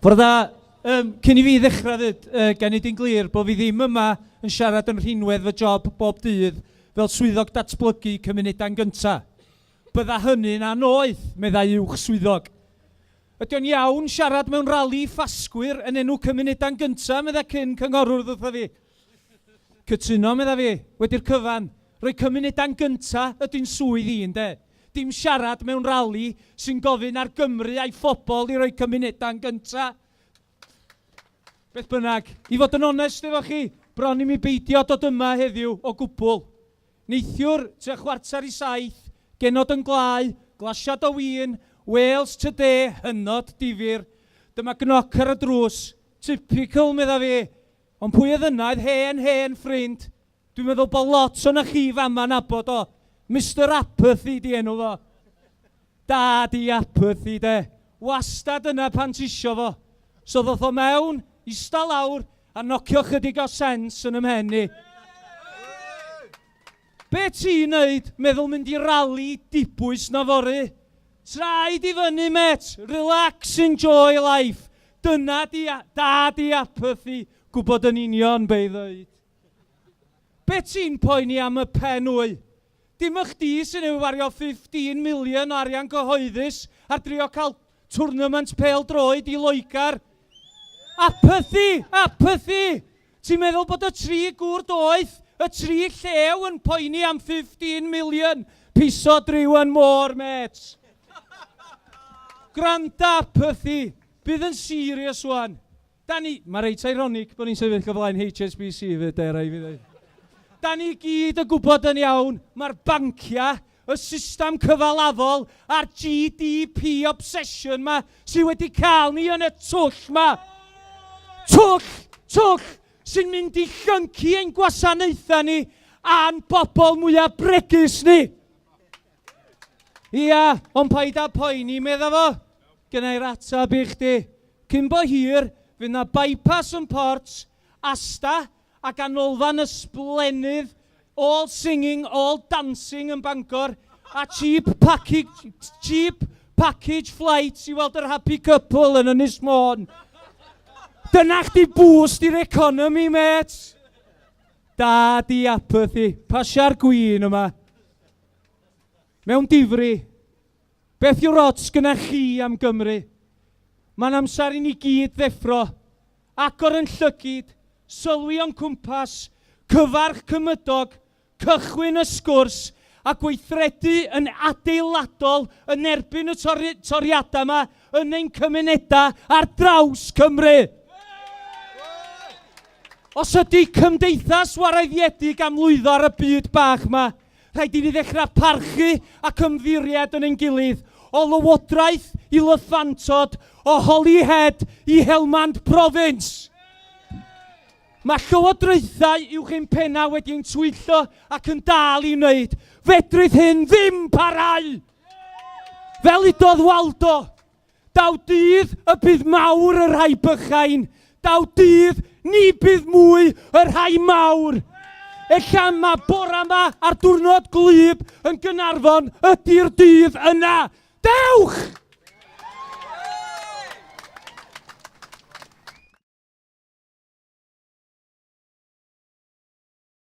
Bore da. Um, cyn i fi ddechrau ddyd, uh, gan i di'n glir bod fi ddim yma yn siarad yn rhinwedd fy job bob dydd fel swyddog datblygu cymunedau'n gyntaf. Bydda hynny'n anoeth, meddai uwch swyddog. Ydy o'n iawn siarad mewn rali ffasgwyr yn enw cymunedau'n gyntaf, meddai cyn cynghorwr ddwtha fi. Cytuno, medda fi, wedi'r cyfan. Rhoi cymunedau'n gynta ydy'n swydd i, ynde? Dim siarad mewn rali sy'n gofyn ar Gymru a'i phobl i roi cymunedau'n gynta. Beth bynnag, i fod yn onest efo chi, bron i mi beidio dod yma heddiw o gwbl. Neithiwr, tua chwarter i saith, genod yn gwlau, glasiad o win, Wales Today hynod difyr. Dyma gnoc ar y drws. Typical, medda fi. Ond pwy oedd yna? Oedd hen, hen ffrind, dwi'n meddwl bod lot o'na chi fama'n abod o, Mister Apathy 'di enw fo. Dad i Apathy 'de, wastad yna pan tisio fo. So ddoth o mewn, ista lawr, a nocio chydig o sense yn 'y mhen i. Be ti'n neud, meddwl mynd i rali dibwys na fory? Traed i fyny met, relax enjoy life, dyna di dad i apathy, gwbod yn union be i ddeud. Be ti'n poeni am y pen wy? Dim y chdi sy'n ei wario 15 million o arian cyhoeddus ar drio cael Twrnament pêl-droed i Loegr. Apathy! Apathy! Ti'n meddwl bod y tri gŵr doeth, y tri llew yn poeni am 15 million? Piso driw and more, mêt! Gwranda, Apathy! Bydd yn serious ŵan. Da ni, mae reit ironic bod ni'n sefyll o flaen HSBC 'fyd de, rhaid i fi ddeud. Da ni i gyd yn gwybod yn iawn, mae'r banciau, y system cyfalafol a'r GDP obsession 'ma sydd wedi cael ni yn y twll 'ma, twll, twll sy'n mynd i llyncu ein gwasanaethau ni a'n bobl mwyaf bregus ni. Ia, ond paid â poeni, medda fo. Gynna i'r atab i chdi. Cyn bo hir, fydd na bypass yn Port, Asta, a ganolfan ysblennydd all singing, all dancing yn Bangor, a cheap package, cheap package flights i weld yr happy couple yn Ynys Môn. Dyna chdi boost i'r economi, met! Da di apathy, pasia'r gwyn yma. Mewn difri, beth yw'r ots gyna chi am Gymru? Mae'n amser i ni gyd ddeffro, agor yn llygid, sylwi o'n cwmpas, cyfarch cymydog, cychwyn y sgwrs a gweithredu yn adeiladol yn erbyn y toriadau yma yn ein cymunedau ar draws Cymru. Os ydy cymdeithas warraeddiedig am lwyddo ar y byd bach yma, Rhaid i ni ddechrau parchu ac ymddiried yn ein gilydd, o Lywodraeth i Lyffantod, o Holyhead i Helmand Province! Mae llywodraethau uwch ein pennau wedi ein twyllo ac yn dal i wneud. Fedrith hyn ddim parhau! Fel udodd Waldo, Daw dydd y bydd mawr y rhai bychain, daw dydd ni bydd mwy y rhai mawr. Ella mae bora yma a'r diwrnod gwlyb yn Gynarfon ydy'r dydd yna. Dewch!